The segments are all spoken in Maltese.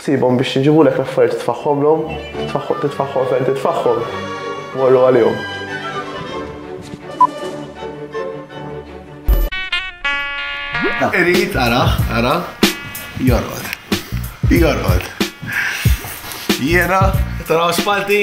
Sibhom biex jġibulek l-affarijiet li tfaħħomlhom, tfaħħom, titfaħħom fejn titfaħħom, morru għalihom. Irid ara, ara, jorqod. Jorqod. Jiena tara spalti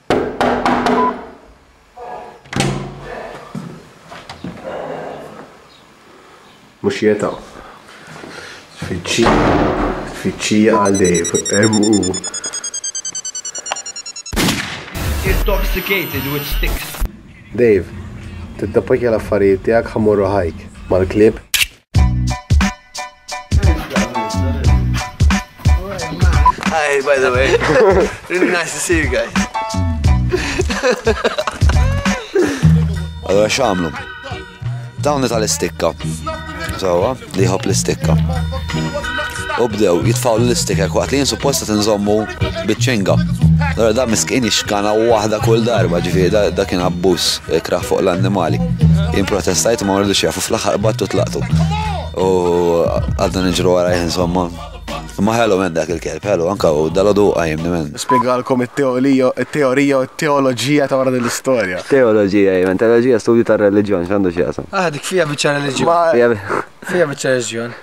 Mhux jeta'. Tfittxija, tfittxija għal Dave, hemm hu. Intoxicated with sticks. Dave, tiddepakja l-affarijiet tiegħek ħa mmorru hike mal-klieb. Hi, by the way. really nice to see you guys. Allora xamlu. Dawn tal-istikka. Sawa, li jħobb l-istikka. U bdew jitfaw l-istikka waqt li jinsupposta tinżommu bitċinga. Allora da miskin ixkana u waħda kull darba ġifieri da kien abbuż eh, kraħ fuq l-annimali. Improtestajt ma rridux jafu Fl-aħħar battu tlaqtu. U għadna nġru għara insomma. Ma ħelu men dak il-kelb, ħelu anka u dal-għodu għajmni men. Spiegalkom il-teorija u teologija ta' wara l-istoria. Teologija, jmen, teologija studju ta' religjon, xandu xieqsam. Ah, dik fija bieċa religjon. Fija bieċa religjon.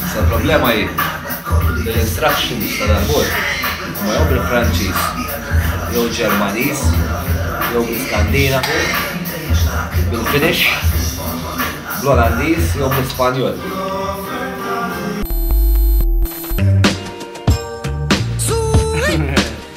Issa l-problema hi li l-instructions ta' dal-bord huma jew bil-Franċiż jew Ġermaniż jew bl-Iskandinavu, bil-Finnish, bl-Olandiż jew bl-Ispanjol.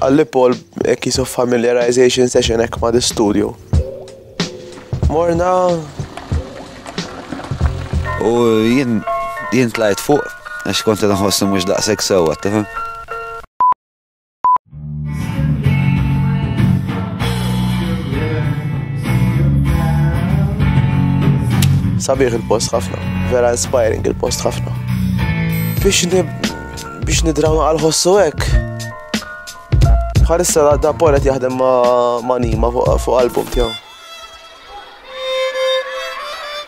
Qalli Paul a case of familiarization session hekk ma' l-istudju. Morna u jien jien tlajt fuq għax kont nħossu mhux daqshekk sewwa, tifhem? Sabiħ il-post ħafna, vera inspiring il-post ħafna. Biex biex nidraw għal ħossu hekk. Bħalissa da polet jaħdem ma' nima fuq album tiegħu.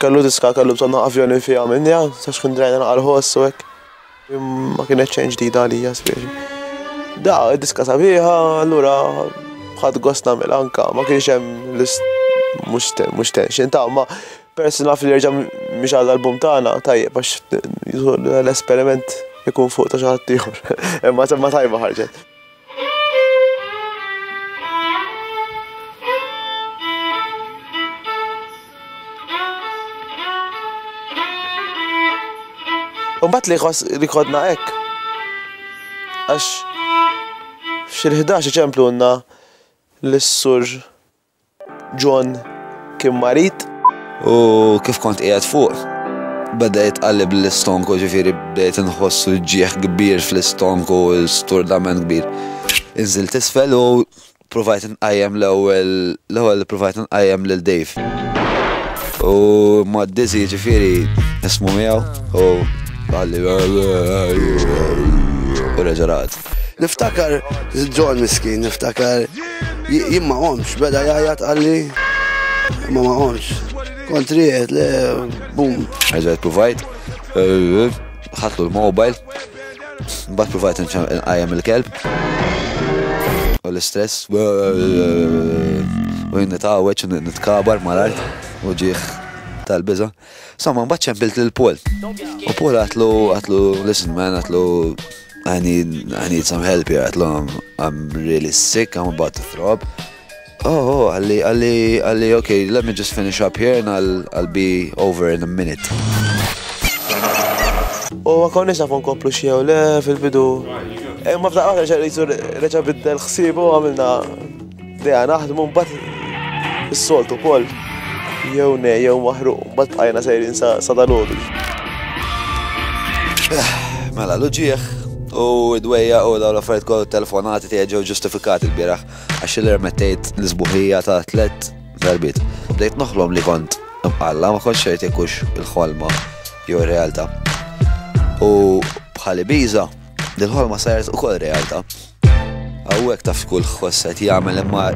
Kellu diska kellu bżonn avjoni fiha minn ja, sax kun drajna għal ħossu hekk. Ma kienet xejn ġdida għalija spiex. Da, diska sabiħa, allura ħad gost nagħmel anka, ma kienx hemm mhux mhux tension ta' ma peress naf li jerġa' mhix għal album tagħna tajjeb għax l-esperiment ikun fuq ta' xi ħadd ieħor. Imma semma tajba ħarġet. Umbat li jħoss li kodna hekk. Għax fil-11 ċemplu għandna l-sur John kien marid. U kif kont qiegħed fuq, beda jitqalleb l-istonku, ġifieri bdejt inħoss uġigħ kbir fl-istonku, sturdament kbir. Inżilt isfel u provajt inqajjem l-ewwel l-ewwel provajt inqajjem lil Dave. U ma d-dizzy ġifieri nismu miegħu u qalli u reġa' raqad. Niftakar John miskin, niftakar jien ma qomx, beda jgħajjat għalli ma ma qomx. Kontri qed le bum. Ħaġa provajt, eh, ħatlu l-mobile, bat provajt nqajjem il-kelb. U l-istress, eh, eh, u jinnitawet, nitkabar mal-art, u ġieħ tal-biza. Somma, mbagħad ċempilt lil Paul. U Paul għatlu, għatlu, listen man, għatlu, I need, I need some help here, għatlu, I'm, I'm really sick, I'm about to throw up. Oh, oh, għalli, għalli, għalli, okay, let me just finish up here and I'll, I'll be over in a minute. U għakon nisa fon koplu xie u le fil-bidu. Eh, ma fdaqqa reċa reċa biddel xsibu għamilna Deja naħdmu mbagħad is-soltu wkoll jew ne jew maħruq mbagħad bqajna sejrin sa dalodu. Mela l-ġieħ u d-dwejja u daw l-affarijiet kollu telefonati tiegħi ġew ġustifikati l-bieraħ għax li rmettejt l-isbuħija ta' tlet darbit. Bdejt noħlom li kont imqalla ma kontx xejn ikux il-ħolma jew ir-realtà. U bħali biża' din ħolma saret ukoll realtà. Hawnhekk taf kull ħoss qed jagħmel imma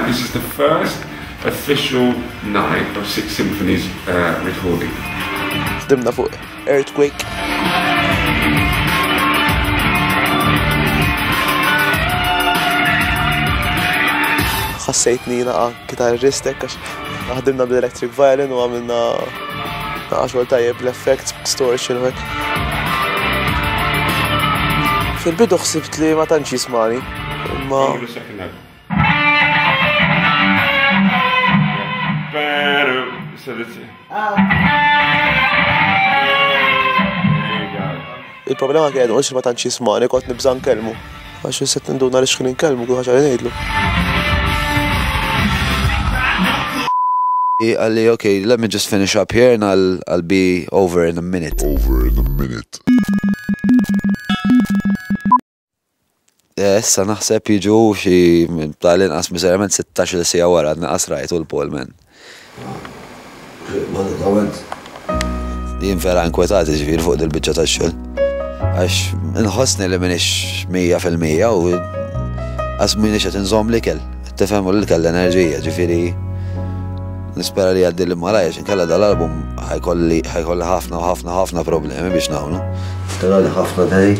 This is the first official night of Six Symphonies uh, recording. Dimna fuq Earthquake. Ħassejtni naqa' kitarristek għax ħdimna bl-electric violin u għamilna naqa' xogħol tajjeb l-effects, distortion u Fil-bidu ħsibt li ma tantx jismani, imma Il-problema kien għedu ma tantx jismani kont nibża' nkellmu. Għax jisset nduna li xħin nkellmu kull ħaġa li ngħidlu. Għalli, ok, let me just finish up here and I'll, I'll be over in a minute. Over in a minute. Eh, issa naħseb jiġu xi tal-inqas miserament 16 sija wara naqas rajtu l-Paul man. Jien vera inkwetati ġifir fuq dil-bicċa ta' xol. Għax nħosni li minix 100% u għas minix għet nżom li kell. Tifem u li kell l-enerġija ġifiri. Nispera li għaddi li malajja xin kalla dal-album ħajkolli ħafna u ħafna ħafna problemi biex nawnu. Tara li ħafna dej.